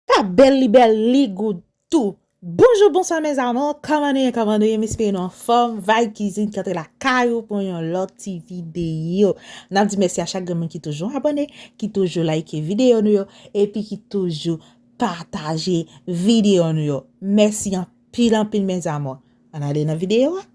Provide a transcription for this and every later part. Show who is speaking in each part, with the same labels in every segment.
Speaker 1: Pa bèl li bèl li good tou. Bonjou bonswa mes amours kòman nou ye kòman nou ye m espere nou anfòm vibe cuisine ki antre lakay ou pou yon lòt ti video nap di mèsi a chak gen moun ki toujou abòne ki toujou like video nou yo epi ki toujou pataje video nou yo mèsi anpil anpil mes amours ann ale nan video a.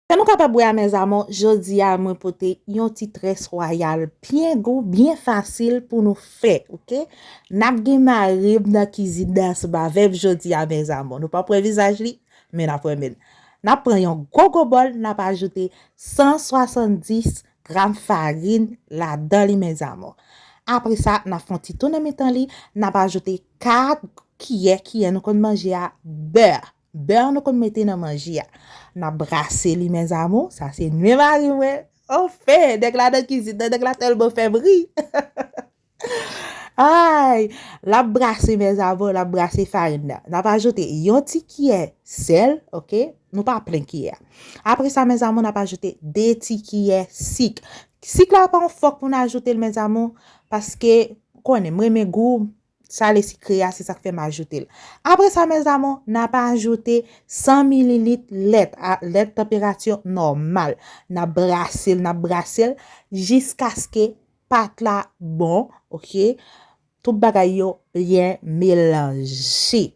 Speaker 1: Sa nou kapab wè a mes amours jodi a mwen pote yon ti très royal byen gou byen fasil pou nou fè ok nap gen marim nan kizin nan ansanm avèm jodi a mes amours nou pap wè vizaj li men nap wè menl nap pran yon gwo gwo bòl nap ajoute 170 gram farine ladan li mes amours apre sa nap fè yon ti tou nan mitan li nap ajoute 4 kiyè kiyè nou konn manje a beurre. Beurre nou konn mete nan manje a. Nap brase li mes amours, sa se nwi mari mwen. Enfin, nèg la nan kizin nan, nèg la tèlman fèm ri. Ayy, lap brase mes amours, lap brase farin nan. Nap ajoute yon ti kiyè sèl, ok, nou pa plen kiyè a. Apre sa mes amours, nap ajoute 2 ti kiyè sik. Sik la pa yon fòk pou nou ajoute l mes amours, paske konnen m renmen gou, Sa le sikre a, se sa k fè m ajoute l. Apre sa, mes amour, n ap ajoute 100 mililit lèt, lèt tanperati nòmal. N ap brase l, n ap brase l jiskaske pat la bon, ok. Tout bagay yo byen melanje.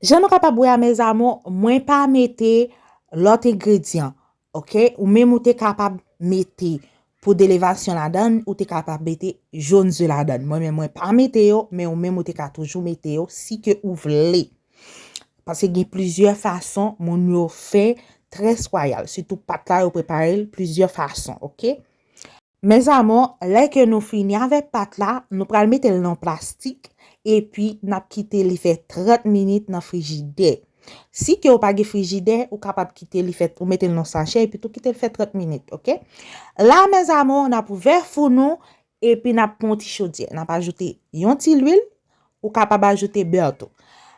Speaker 1: Jan nou kapab wè a, mes amour, mwen pa mete lòt engredyan. Ok ou menm ou te kapab mete pou delevasyon ladan ou te kapab mete jone ze ladan mwen menm mwen pa mete yo men ou menm ou te ka toujou mete yo si ke ou vle pase gen plizyè fason moun yo fè tres royal sitou pat la yo preparel plizyè fason ok. Mes amours lè ke nou fini avèk pat la nou pral metel nan plastik epi nap kite li fè 30 minit nan frijidè si ke ou pa gen frijidè ou kapab kite li fè ou metel nan sachè epi tou kitel fè 30 minit ok la mes amours nap ouvè four nou epi nap pran yon ti chodyè nap ajoute yon ti lwil ou kapab ajoute bè tou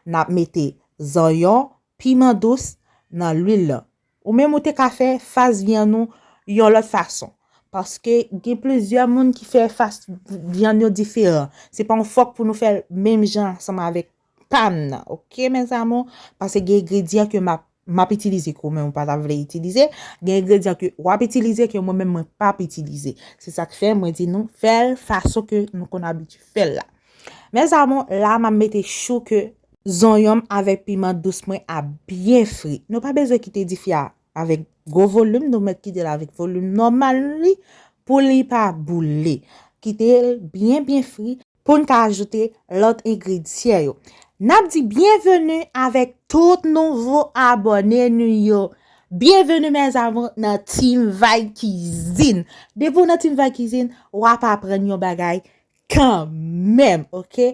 Speaker 1: nap mete zanyon piman dous nan lwil lan Ou menm ou te ka fè fas vyann ou yon lòt fason. Paske gen plizyè moun ki fè fas vyann yo diferan. Se pa yon fòk pou nou fè l menm jan ansanm avèk pa m nan ok mes amour. Pase gen engredyan ke map map itilize ke ou menm ou pa ta vle itilize. Gen engredyan ke w ap itilize ke mwen menm mwen pap itilize. Se sak fè mwen di nou fè l fason ke nou konn abitye fè l la. Mes amour, la map mete chou ke zonyon m avèk piman dous mwen a byen fri. Nou pa bezwen kite difi a avèk gwo volim, nou mèt kite l avèk volim nòmal li pou li pa boule. Kite l byen byen fri pou n ka ajoute lòt engredyan yo. Nap di byenveni avèk tout nouvo abòne nou yo. Byenveni mes amour nan Team Vay Kizin. Depi w nan Team Vay Kizin, wap aprann yon bagay Kan menm ok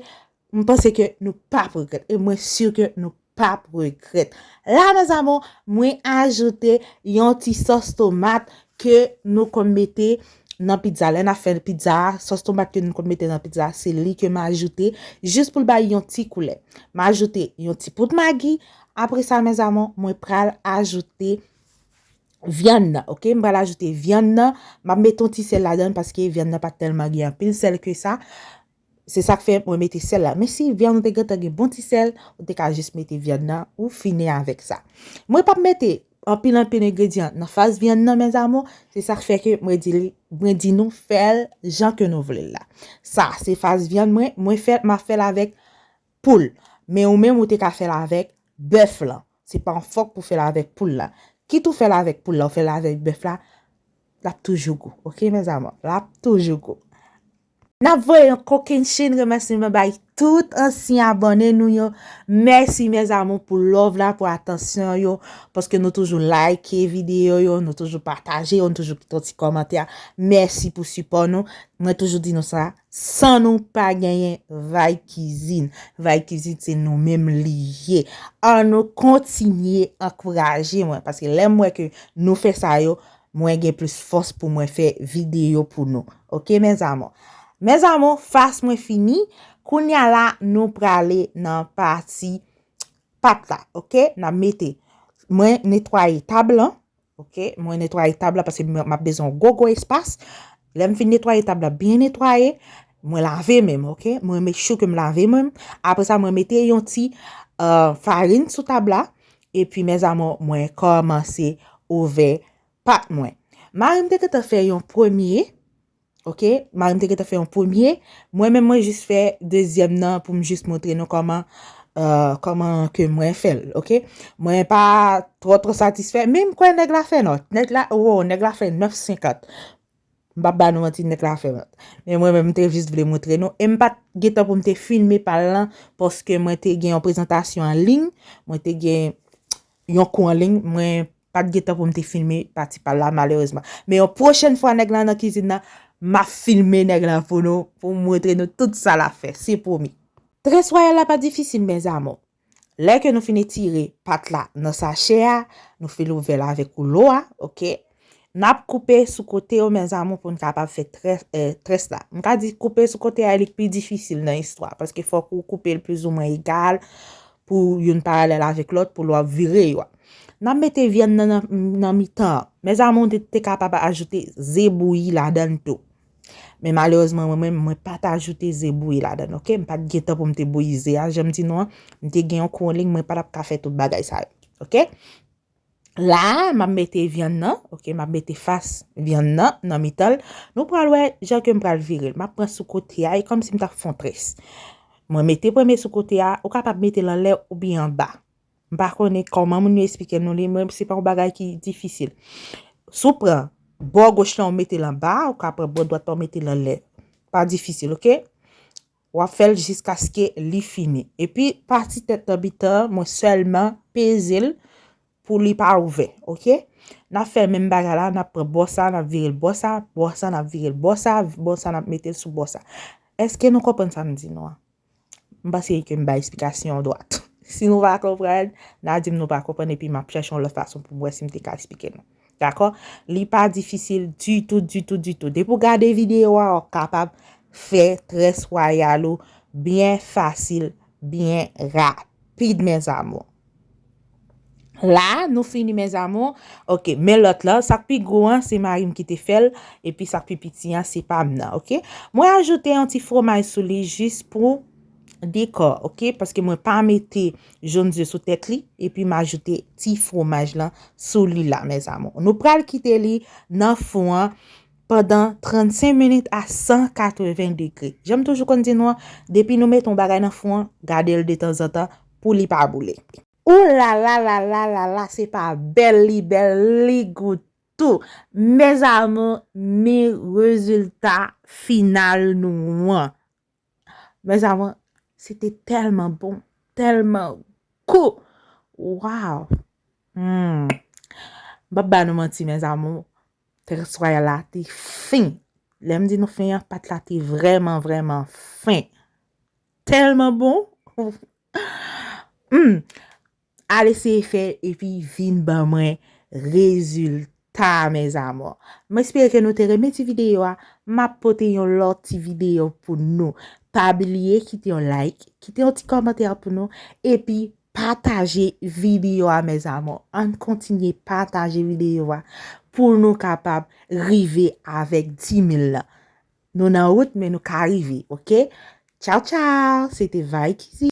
Speaker 1: m panse ke nou pap regrèt e mwen sur ke nou pap regrèt. La mes amours mwen ajoute yon ti sòs tomat ke nou konn mete nan pizza lè nap fè pizza a sòs tomat ke nou konn mete nan pizza a se li ke m ajoute jis pou l bay yon ti koulè. M ajoute yon ti poud magi apre sa mes amours mwen pral ajoute vyann nan ok m pral ajoute vyann nan map mete yon ti sèl ladann paske vyann nan pat tèlman gen anpil sèl ke sa Se sak fè mwen mete sèl la. Men si vyann ou te gentan gen bon ti sèl, ou te ka jis mete vyann nan, ou fini avèk sa. Mwen pap mete anpil anpil engredyan nan fas vyann nan mes amours, se sak fè ke mwen di li, mwen di nou fèl jan ke nou vle la. Sa se fas vyann mwen, mwen fèl, ma fèl avèk Poul, Men ou menm ou te ka fèl avèk bèf lan. Se pa yon fòk pou fèl avèk poul la. Kit ou fèl avèk poul la ou fèl avèk bèf la, lap toujou gou. Ok mes amours, lap toujou gou. Nap voye yon kokennchenn remèsiman bay tout ansyen abòne nou yo. Mèsi mes amours pou love la, pou atansyon yo, paske nou toujou like video yo, nou toujou pataje yo, nou toujou kite yon ti kòmantè. Mèsi pou sipò nou. Mwen toujou di nou sa. San nou pa genyen Vay kizin. Vay kizin se nou menm li ye. An nou kontinye ankouraje mwen. Paske lè m wè ke nou fè sa yo. Mwen gen plis fòs pou mwen fè videyo pou nou. Ok mes amour. Mes amour fas mwen fini. Kounya la nou prale nan pati pat la. Ok. Nan mete. Mwen netwaye tab lan. Ok mwen netwaye tab la paske map bezwen yon gwo gwo espas lèm fin netwaye tab la byen netwaye mwen lave menm ok mwen make sure kem lave menm apre sa mwen mete yon ti euh, farin sou tab la epi mes amours mwen kòmanse ouvè pat mwen marim te gentan fè yon premye Ok, marim te gentan fè yon premye, mwen menm mwen jis fè dezyèm nan pou m jis montre nou kòman kòman ke mwen fè l, ok. Mwen pa twò twò satisfè, men m kwè nèg la fè nòt, nèg la, woo, nèg la fè 9 senkant. M pap ba nou manti, nèg la fè nòt. Men mwen menm m te jis vle montre nou, e m pat gentan pou m te filme pa l lan, paske mwen te gen yon prezantasyon an liy, mwen te gen yon kou an liy, mwen Pat gen tan pou m te filme pati pal la malerezman. Men yon pwochèn fwa nèg la nan kizin nan, m ap filme nèg la pou nou, pou m montre nou tout sa l ap fè. Se pwomi. Tres Royal la pa difisil mes amour. Lè ke nou fin etire pat la nan sachè a, nou fin louvè l avèk woulo a, ok. N ap koupe sou kote yo mes amour pou n kapab fè tres, eh, tres la. M ka di koupe sou kote a li k pi difisil nan istwa a, paske fòk ou koupe l plizoumwen egal pou youn paralèl avèk lòt pou lwa vire yo a. N ap mete vyann nan nan mitan an. Mezanmi ou te kapab ajoute ze bouyi ladann tou. Men malerezman mwen menm mwen pa t ajoute ze bouyi ladann ok. M pa t gen tan pou m te bouyi ze a jan m di nou an. M te gen yon kouwon ling mwen pa t ap ka fè tout bagay sa yo ok. La a, m ap mete vyann nan, ok, m ap mete fas vyann nan nan mitan l. Nou pral wè jan ke m pral vire l. M ap pran sou kote a, e kòm si m t ap fè yon tres. Mwen mete premye sou kote a, ou kapab mete l anlè oubyen anba. M pa konnen kòman moun yo esplike nou li, men se pa yon bagay ki difisil. Si w pran bò goch lan ou mete l anba, ou ka pran bò dwat lan ou mete l anlè. Pa difisil, ok? W ap fè l jiskaske li fini. Epi pati tèt tanbitan an, mwen sèlman peze l pou li pa ouvè. Ok? N ap fè menm bagay la, n ap pran bò sa, n ap vire l bò sa, bò sa n ap vire l bò sa, bò sa n ap mete l sou bò sa. Èske nou konprann sa m di nou an? M panse ke m bay esplikasyon an dwat. Si nou pa konprann, n a di m nou pa konprann epi m ap chèche yon lòt fason pou m wè si m te ka esplike nou. Dakò? Li pa difisil ditou, ditou, ditou. Depi ou gade videyo a, ou kapab fè tres wayal ou byen fasil, byen rapid, mes amours. La, nou fini mes amours. Ok, men lòt la, sak pi gwo an, se mari m ki te fè l, epi sak pi piti an, se pa m nan, ok? Mwen ajoute yon ti fwomaj sou li jis pou. Dekò ok paske mwen pa mete jaune d'oeuf sou tèt li epi m ajoute ti fwomaj lan sou li la mes amours. Nou pral kite li nan fou an pandan 35 minit a 180 degre. Janm toujou konn di nou an, depi nou mete yon bagay nan fou an, gade l de tanzantan pou li pa boule. Ooh lala lala lala se pa bèl li bèl li gou tou mes amours ni rezilta final nou an Mes amour, se te telman bon, telman gou! Waw! Humm! M pap ba nou manti mes amour, tres royal la te fin! Lè m di nou fin an, pat la te vreman, vreman fin! Telman bon! Humm! Al eseye fèl epi vin ban mwen rezilta a mes amours. M espere ke nou te renmen ti videyo a, m ap pote yon lòt ti videyo pou nou. Pa bliye kite yon like, kite yon ti kòmantè pou nou, epi pataje videyo a mes amours. Ann kontinye pataje videyo a pou nou kapab rive avèk 10000 lan. Nou nan wout men nou ka rive ok. Tchao tchao, se te Viky.